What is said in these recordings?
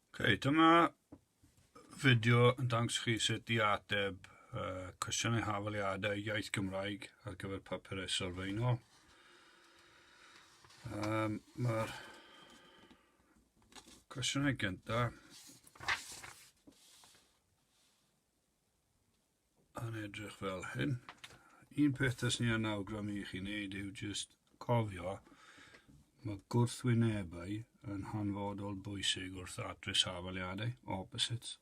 Okay, dyma fideo yn dangos chi sut i ateb uh, cwestiynau hafaliadau iaith Gymraeg ar gyfer papurau sylfaenol. Um, Mae'r cwestiynau gyntaf Yn edrych fel hyn. Un peth dys ni yn awgrymu i chi wneud yw jyst cofio mae gwrthwynebau yn hanfodol bwysig wrth atrys hafaliadau, opposites.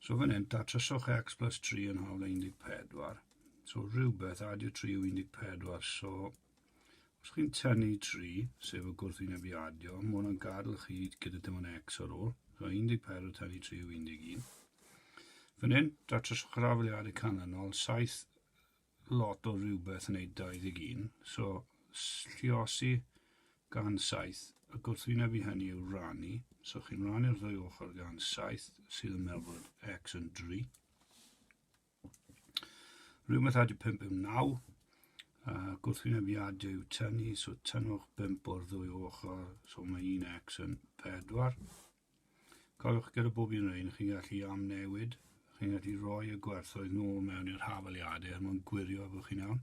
So fan hyn, datryswch x plus 3 yn hawl 14. So rhywbeth, adio 3 yw 14, so Os chi'n tynnu 3, sef y gwrthwynebiadio, mae hwnna'n gadw chi gyda dim ond x ar ôl. So 14 tynnu 3 yw 11. Fan hyn, datrys o grafeliadau canlynol, 7 lot o rhywbeth yn ei 21. So, lliosi gan 7. Y gwrthwyneb i hynny yw rannu. So, chi'n rannu'r ddwy ochr gan 7 sydd yn meddwl bod x yn 3. Rhywbeth ar dy 5 yn 9. Uh, gwrthwynebiad yw tynnu, so tynnwch 5 o'r ddwy ochr, so mae 1x yn 4. Cofiwch gyda bob un o'r un, chi'n gallu amnewid, chi'n gallu rhoi y gwerthoedd nôl mewn i'r hafaliadau er mwyn gwirio bod chi'n iawn.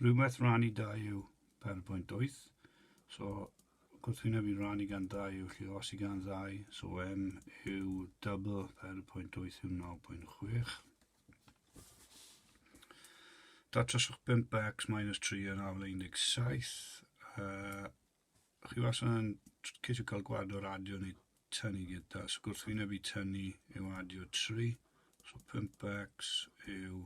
Rhywbeth rhan i dau yw 4.8, so Gwrthwyneb i rannu gan ddau yw lle os i gan ddau, so m yw double 4.8 yw 9.6. Datryswch 5x minus 3 yn afle 17. Uh, chi was yn ceisio cael gwad o'r adio neu tynnu gyda, so gwrthwyneb i tynnu yw adio 3. So 5x yw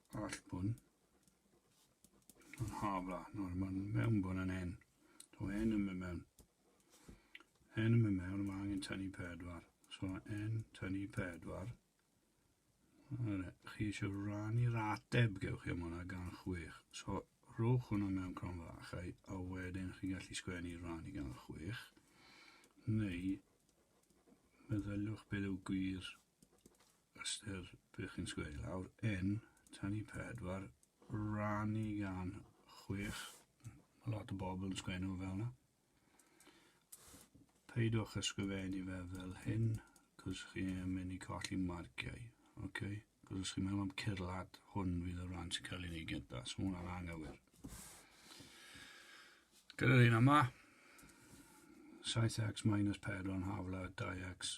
Arall bwn. Yn hafla. Nawr mae'n mewn bwn yn hen. So hen yn mynd mewn. Hen yn mynd mewn, mae angen tynnu pedwar. So hen tynnu pedwar. Yle, chi eisiau rannu'r ateb gewch chi am hwnna gan chwech. So, rhowch hwnna mewn cron fach, a, a wedyn chi'n gallu sgwennu rannu gan chwech. Neu, meddyliwch beth yw gwir ystyr be chi'n sgwennu lawr, yn tanu pedwar, rannu gan chwech, mae lot o bobl yn sgwennu fel yna. Peidiwch ysgrifennu fe fel hyn, cos chi'n mynd i colli marciau, oce? Okay? Cos os chi'n meddwl am cyrlad, hwn fydd y ran sy'n cael ei wneud gyda, so hwnna'n anghywir. Gyda'r un yma, 7x minus 4 yn hafla 2x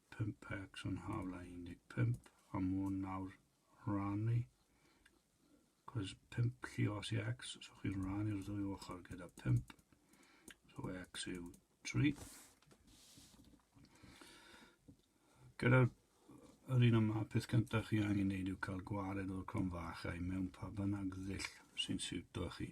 pump pecks yn hawla 15 a mwn nawr rannu cos pump lli os i x so chi'n rannu'r ddwy ochr gyda pump so x yw 3 gyda'r yr un yma peth cyntaf chi angen neud yw cael gwared o'r crom fach a'i mewn pa bynnag ddull sy'n siwto chi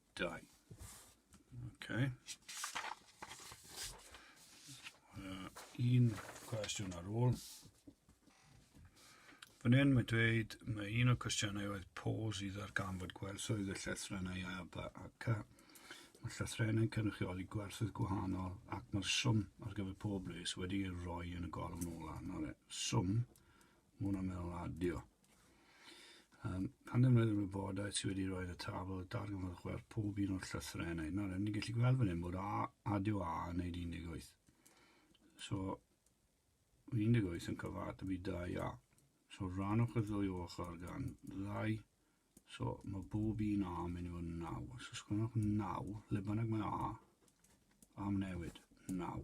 Dau. Okay. Uh, un cwestiwn ar ôl. Fan hyn mae dweud, mae un o'r cwestiynau oedd pôs i ddarganfod gwerthoedd y llythrennau A, B ac A. Mae llythrennau cynrychioli gwerthoedd gwahanol ac mae'r swm ar gyfer pob les wedi ei roi yn y golwm ola. Nawr e, swm, mae hwnna'n meddwl adio. Um, pan ddim rhaid yn wybodaeth sydd wedi rhoi y tabl darganfod chwerth pob un o'r llythrenau. Nawr, ni'n gallu gweld fan hyn bod A, adio A yn neud 18. So, 18 yn cyfat y byd 2 A. So, rhan o'ch y ddwy ochr gan ddau. So, mae bob un A yn mynd i fod yn 9. So, sgwrnwch 9, le bynnag mae A, am newid, 9.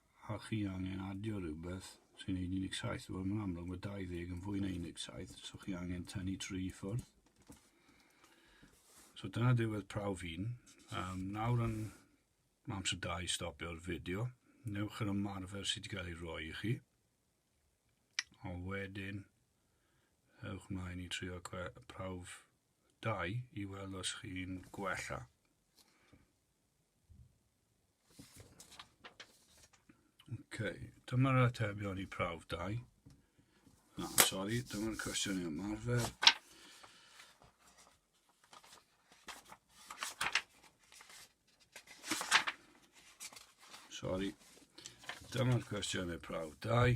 a chi angen adio rhywbeth sy'n 17 wel mae'n amlwg mae 20 yn fwy na 17 so chi angen tynnu tri ffwrdd so dyna ddiwedd prawf un um, nawr yn amser da i stopio'r fideo newch yr ymarfer sydd wedi cael ei roi i chi a wedyn ewch mlaen i trio prawf dau i weld os chi'n gwella Okay, dyma'r atebion i prawf dau. Na, sori, dyma'r cwestiwn i ymarfer. Sori, dyma'r cwestiwn i prawf dau.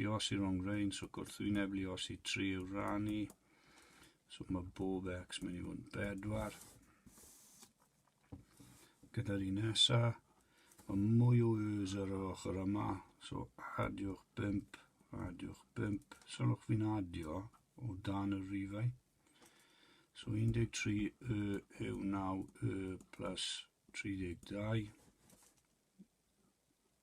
Lluosi rhongrhain, so gwrthwyneb lluosi 3 yw rannu, so mae bob x mynd i fod yn 4. Gyda'r un nesa, mae mwy o yws ar yr ochr yma, so adiwch 5, adiwch 5, sylwch fi'n adio o dan y rifau. So 13 y yw 9 y plus 32.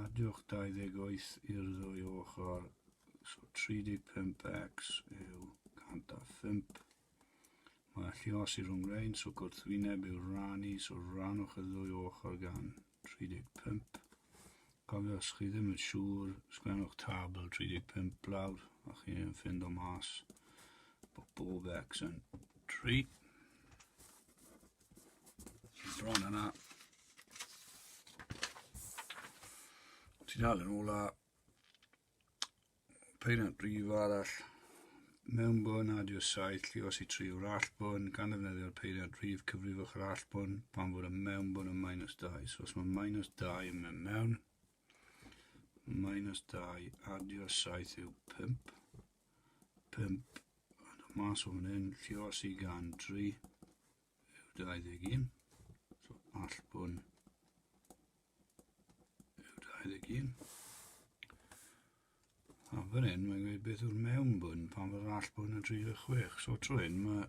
Addewch 28 i'r ddwy ochr, so 35x yw 105. Mae llios i rhwng rein, so gwrthwyneb yw'r rannu, so rannwch y ddwy ochr gan 35. Cofiwch, os chi ddim yn siŵr, sgwennwch tabl 35 blawd a chi'n ffind o mas bod bob x yn 3. Bron yna. Ti'n dal yn ôl a peiriant brif arall mewn bwn a diw'r saith llios i tri o'r all bwn, gan ddefnyddio'r peiriant rhif cyfrifwch yr all bwn pan fod y mewn bwn yn minus 2. So os mae minus 2 yn mynd mewn, minus 2 adio 7 yw 5. 5, ond mas o fan hyn, llio sy'n gan 3 yw 21, so all bwn yw 21. A fan hyn, mae'n gweud beth yw'r mewn bwn pan fod all bwn yn 36, so trwy hyn mae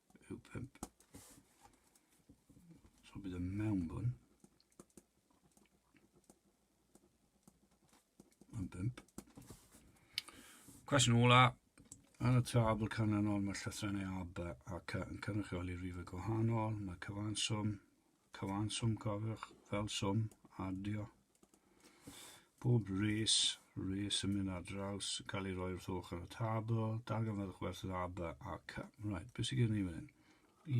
yw 5. So bydd y mewnbwn yn 5. Cwestiwn ola, yn y tabl canlynol mae llythrennau A, B a C yn cynrychioli rhifau gwahanol, mae cyfanswm, cyfanswm cofiwch, fel swm, adio, Bob res, res yn mynd ar draws, cael ei roi wrth ochr y tabl, darganfyddwch werth yr ab a cy. Right, beth sydd gen ni fan hyn?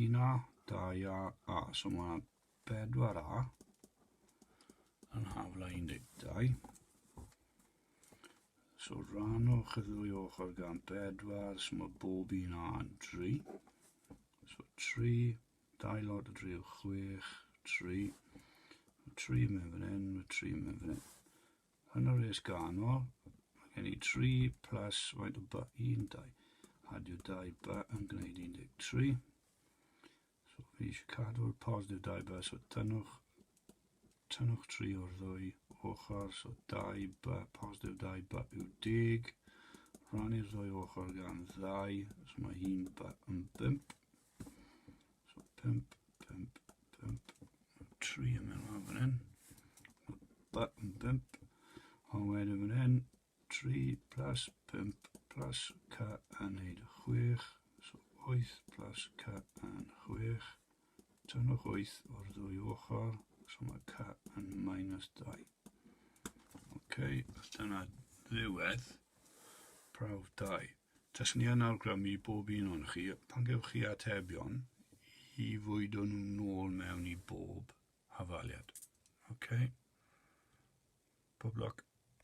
Un a, da ia a. So mae yna bedwar a yn hafla 12. So rhanwch y ddwy ochr gan bedwar, so mae bob un a yn 3. So 3 Dau lod o dri o chwech, tri. Mae tri mewn fan hyn, mae tri mewn fan hyn. Yn y res ganol, mae gen i tri plus faint o ba, un, dau. Adio dau ba yn gwneud 13. So fi eisiau cadw'r positif dau ba, so tynnwch, tynnwch tri o'r ddwy ochr, so dau ba, positif dau ba yw deg. Rhannu'r ddwy ochr gan ddau, so mae un ba yn bimp. So, pump, pump, pump, tri yn mynd lawr fan hyn. Button pump, a wedyn fan hyn, tri plus pump plus ca yn neud chwech. So, oeth plus ca yn chwech. Tynnwch oeth o'r ddwy ochr, so mae ca yn minus dau. OK, dyna ddiwedd prawf dau. Taswn i yn awgrymu i bob un ohonoch chi, pan gewch chi atebion, i fwydo nhw nôl mewn i bob hafaliad. OK? Pob lwc.